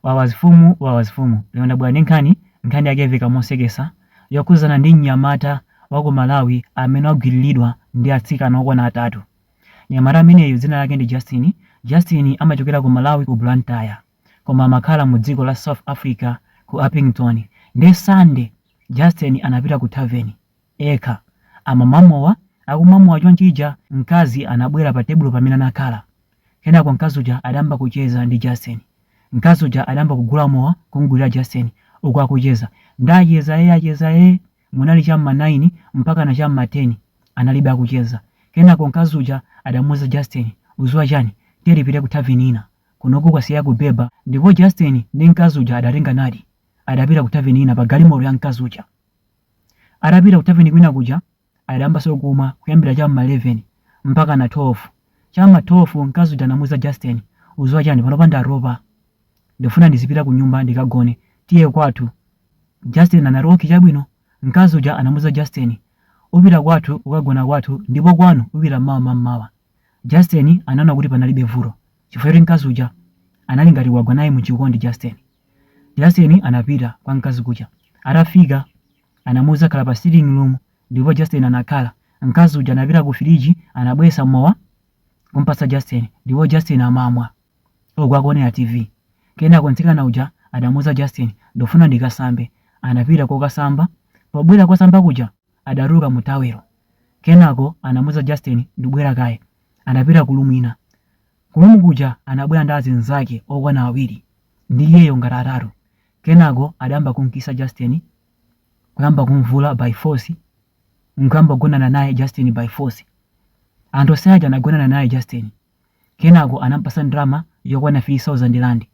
Wawa azifumu wawa azifumu lero ndabwera ndi nkhani nkhani yake yaveka mosekesa yokhuzana ndi mnyamata waku Malawi amene wagwiriridwa ndi atsikana okwana atatu mnyamata ameneyu dzina lake ndi Justin Justin amachokera ku Malawi ku Blantyre koma amakhala mu dziko la South Africa ku Upington nde Sunday Justin anapita ku thaveni ekha. Amamwa mowa. Akumwa mowa chonchija mkazi anabwera pa tebulo pamene anakhala. Kenako mkazi uja adayamba kucheza ndi Justin. Mkazi uja adayamba kugula mowa kumgulira Justin uku akucheza. Nde acheza ee acheza ee. Munali cha mma 9 mpakana cha mma 10 adalibe akucheza. Kenako mkazi uja adamuuza Justin, uziwa chani? Tiye tipite ku thaveni ina. Kunoku kwasiya kubhebha. Ndipo Justin ndi mkazi uja adatenganadi. Adapita ku thaveni ina pa galimoto ya mkazi uja. Atapita ku thaveni kwina kuja, adayambanso kumwa kuyambira cha m'ma 11 mpakana 12. Cha m'ma 12 mkazi uja anamuuza Justin, Uziwa chani, panopa ndatopa. Ndikufuna ndizipita kunyumba ndikagone. Tiye kwathu. Justin anati, Okay chabwino. Mkazi uja anamuuza Justin, Upita kwathu ukagona kwathu ndipo kwanu upita mmawa mammawa. Justin anaona kuti panalibe vuto chifukwa choti mkazi uja anali ngati wagwa naye mu chikondi Justin. Justin anapita kwa mkazi kuja. Atafika anamuuza khala pa sitting room ndipo Justin anakhala. Mkazi uja anapita ku firiji anabwesa mowa kumpatsa Justin ndipo Justin amamwa uku akuonera TV. Kenako mtsikana uja adamuuza Justin ndikufuna ndikasambe. Anapita kokasamba. Pobwera kosamba kuja adatuluka mu tawelo. Kenako anamuuza Justin ndibwera kaye. Anapita ku room ina. Ku room kuja anabwera ndi azinzake okwana awiri ndi iyeyo ngati atatu kenako adayamba kumkisa Justin kuyamba kumvula by force nkuyamba kugonana naye Justin by force. Anthu onse aja anagonana naye Justin kenako anampasa ndalama yokwana 3000 rand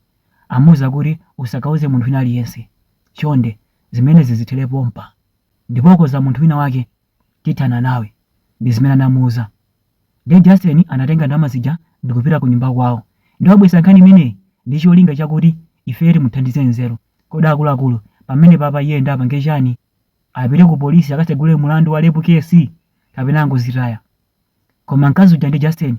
amuuza kuti usakauze munthu wina aliyense chonde zimenezi zithere pompa ndipo ukauza munthu wina wake tithana nawe. Ndi zimene anamuuza. Ndiye Justin anatenga ndalama zija ndi kupita kunyumba kwawo. Ndiye wabwesa nkhani imeneyi ndi cholinga chakuti ifeyo timuthandize nzeru. Kodi akuluakulu, pamenepapa iyeyo ndiye apange chani? Apite kupolisi akatsegule mlandu wa rape case? Kapena angozitaya? Koma mkazi uja ndi Justin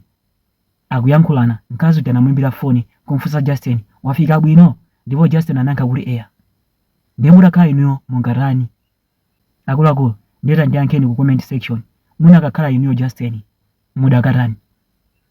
akuyankhulana, mkazi uja anamuimbira foni n'kumufunsa Justin, wafika bwino? Ndipo Justin anayankha kuti eya. Ndiye mutakhala inuyo mungatani? Akuluakulu ndiye tandiyankheni ku comment section, munakakhala inuyo Justin mudakatani?